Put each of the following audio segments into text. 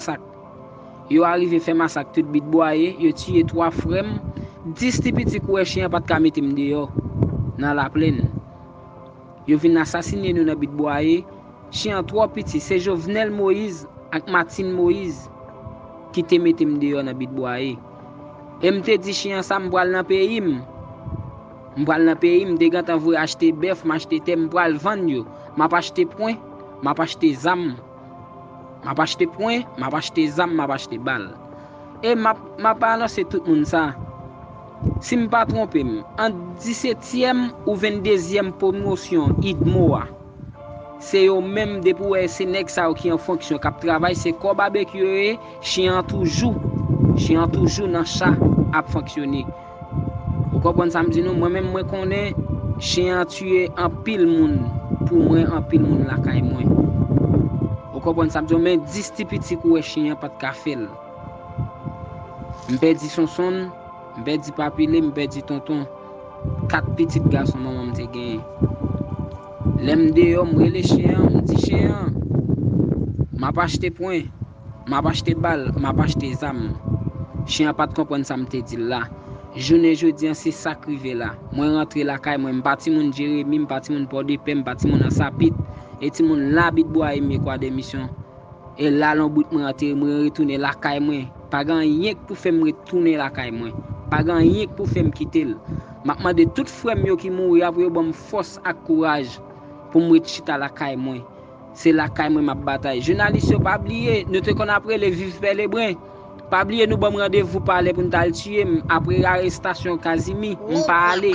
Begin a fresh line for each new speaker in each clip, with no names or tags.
masak. Yo arive fè masak tout bit bwaye, yo tiye 3 frè m, 10 ti piti kouwè chen an pa t ka mete m deyò nan laplenn. Yo vin asasine nou nan bit bwaye, chen an twò piti, se Jovenel Moïse ak Martine Moïse ki te mete m deyò nan bit bwaye. E m te di chen an sa m pral nan peyi m, m pral nan peyi m, m te gentan vwe achte bèf, m achte tè, m pral vann yo, m ap achte pwen, m ap achte zam. Map achte pwen, map achte zam, map achte bal. E map map anonse tout moun sa. Si m pa twonpe m, ant disetyèm ou venndezyèm pwomosyon udmo a, se yo menm depi ou wè se nèg sa yo ki an fonksyon kap travay se kò babekyu yo ye, chyen an toujou, chyen an toujou nan cha ap fonksyone. Ou konprann sam di nou mwen menm mwen konnen chien an tuye anpil moun pou mwen anpil moun lakay mwen ou konprann sam diw men 10 ti piti kou wè chien an pat ka fèl m pèdi sonsonn m pèdi papile m pèdi tonton 4 pitit gason manmanm te genyen lèm deyò m rele chien an m di chien an map achte pwen. Map achte bal, map achte zam. Chen an pat konprann sa m te di l la. Jounen jodi an se sa k rive la. Mwen rantre lakay mwen, m pa timoun Jeremi, m pa timoun Pòdepè, m pa timoun Ansapit. E timoun Labit Bwa Eme Kwadèmisyon. E la lonbrit mwen antere, mwen retounen lakay mwen. Pa gen anyen k pou fè m ret tounen lakay mwen. Pa gen anyen k pou fè m kite l. Map mande tout frè m yo ki mouri a pou yo ban m fòs ak kouraj pou m ret chita lakay mwen. Se lakay mwen map batay. Jounalis yo pa bliye nou te konn ap rele viv pè lebren pa bliye nou banm randevou palè pou nou tal tiyem apre arestasyon kazimi m pa ale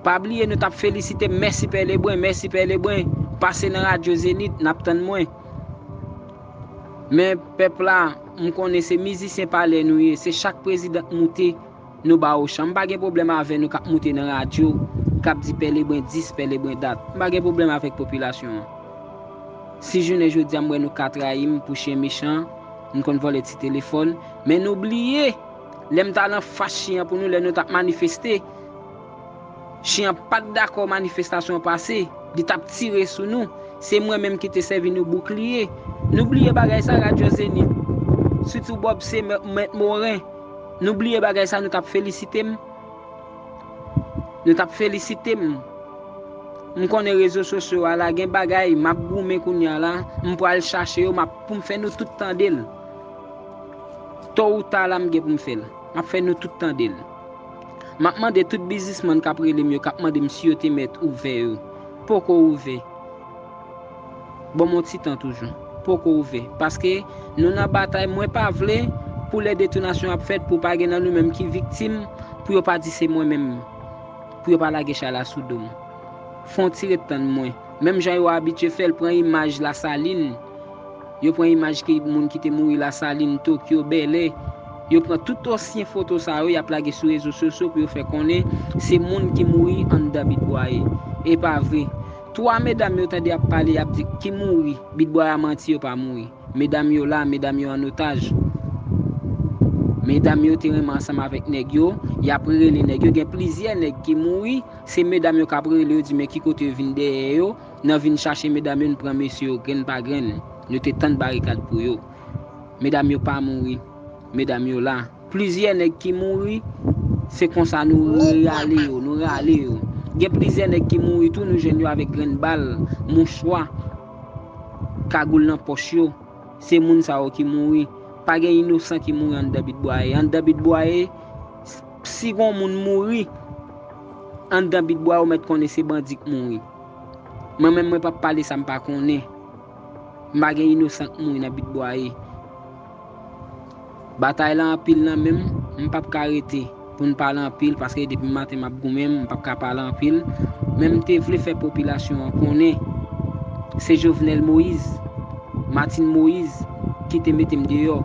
pa bliye nou tap felisitem mèsi pè lebren mèsi pè lebren pase nan radyo zenith nap tann mwen men pèp la m konnen se mizisyen palè nou ye se chak president moute Nou ba ou chan. M pa gen pwoblèm avè nou k ap moute nan radyo, k ap di pè Lebren dis, pè Lebren dat. M pa gen pwoblèm avèk popilasyon an. Si jounen jodi a m wè nou ka trayi m pou chen mechan, m konn vòlè ti telefòn, men nou bliye lè m t al anfas chen an pou nou, lè nou t ap manifeste, chen an pa t dakò manifestasyon an pase, li t ap tire sou nou, se mwen menm ki te sèvi nou boukliye. Nou bliye bagay sa, radyo Zenith, sitou Bob Semer, Mèt Moren. Nou bliye bagay sa nou tap felisite m nou tap felisite m m konnen rezo sosyo a la gen bagay map goumen kounya la m pwal chache yo map poum fè nou tout tandel to ou ta la m gen poum fèl map fè nou tout tandel map mande tout bizismann kap relem yo kap mandem si yo te mèt ouvè yo poko ouvè. Banm yon ti tan toujou. Poko ouvè. Paske Nou nan batay mwen pa vle Pou lè detonasyon ap fèt Pou pa gen nan Nou menm ki viktim Pou yo pa di se mwen menm Pou yo pa lage chay la sou dom Fon ti ret tann mwen Menm jan yo abitye fèl pran imaj la saline Yo pran imaj ki moun ki te mouri la saline tokyo bèlè Yo pran tout osyen foto sa yo yap lage sou rezo sosyo Pou yo fè konnen se moun ki mouri anndan bit bwaye Epa vre 3 medam yo tande ap pale yap di ki mouri bitboy a manti yo pa mouri medam yo la medam yo an otaj medam yo te renmen ansanm avèk nèg yo yap rele nèg yo gen plizyè nèg ki mouri se medam yo kap rele yo di men ki kote yo vin dèyè yo nan vin chache medam yo n pran mesye yo grenn pa grenn nou te tand barikad pou yo medam yo pa mouri medam yo la. Plizyè nèg ki mouri, se konsa nou rale yo, nou rale yo. Gen plizyè nèg ki mouri tou nou jwenn yo avèk grenn bal, mouchwa, kagoul nan pòch yo. Se moun sa yo ki mouri. Pa gen inosan ki mouri anndan Bit Bwaye. Anndan Bit Bwaye, si gon moun mouri anndan Bit Bwaye ou mèt konnen se bandi k mouri. Mwen menm mwen pap pale sa m pa konnen. M pa gen inosan k mouri nan Bit Bwaye. Batay lan anpil nan menm m pap ka rete pou n pale anpil paske depi maten m ap goumen m pap ka pale anpil men m te vle fè popilasyon an konnen se Jovenel Moïse Martine Moïse ki te mete m deyò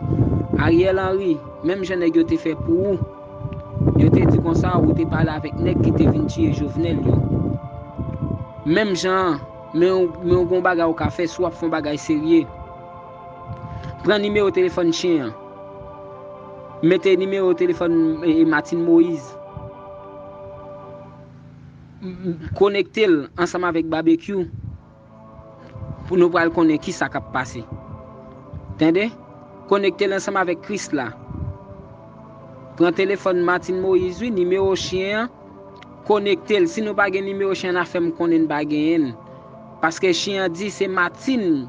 Ariel Henry menm jan nèg yo te fè pou ou yo te di konsa ou te pale avèk nèg ki te vin tiye Jovenel yo menm jan an men ou gen yon bagay ou ka fè si w ap fè yon bagay serye. Pran nimewo telefòn chen an. Mete nimewo telefòn Martine Moise. Konekte l ansanm avèk Babekyou pou nou pral konnen ki sa k ap pase. Tande? Konekte l ansanm avèk Krisla. Pran telefòn Martine Moise wi, nimewo chen an, konekte l. Si nou pa gen nimewo chen an, n a fè m konnen n pa genyen l. Paske chen an di se Martine.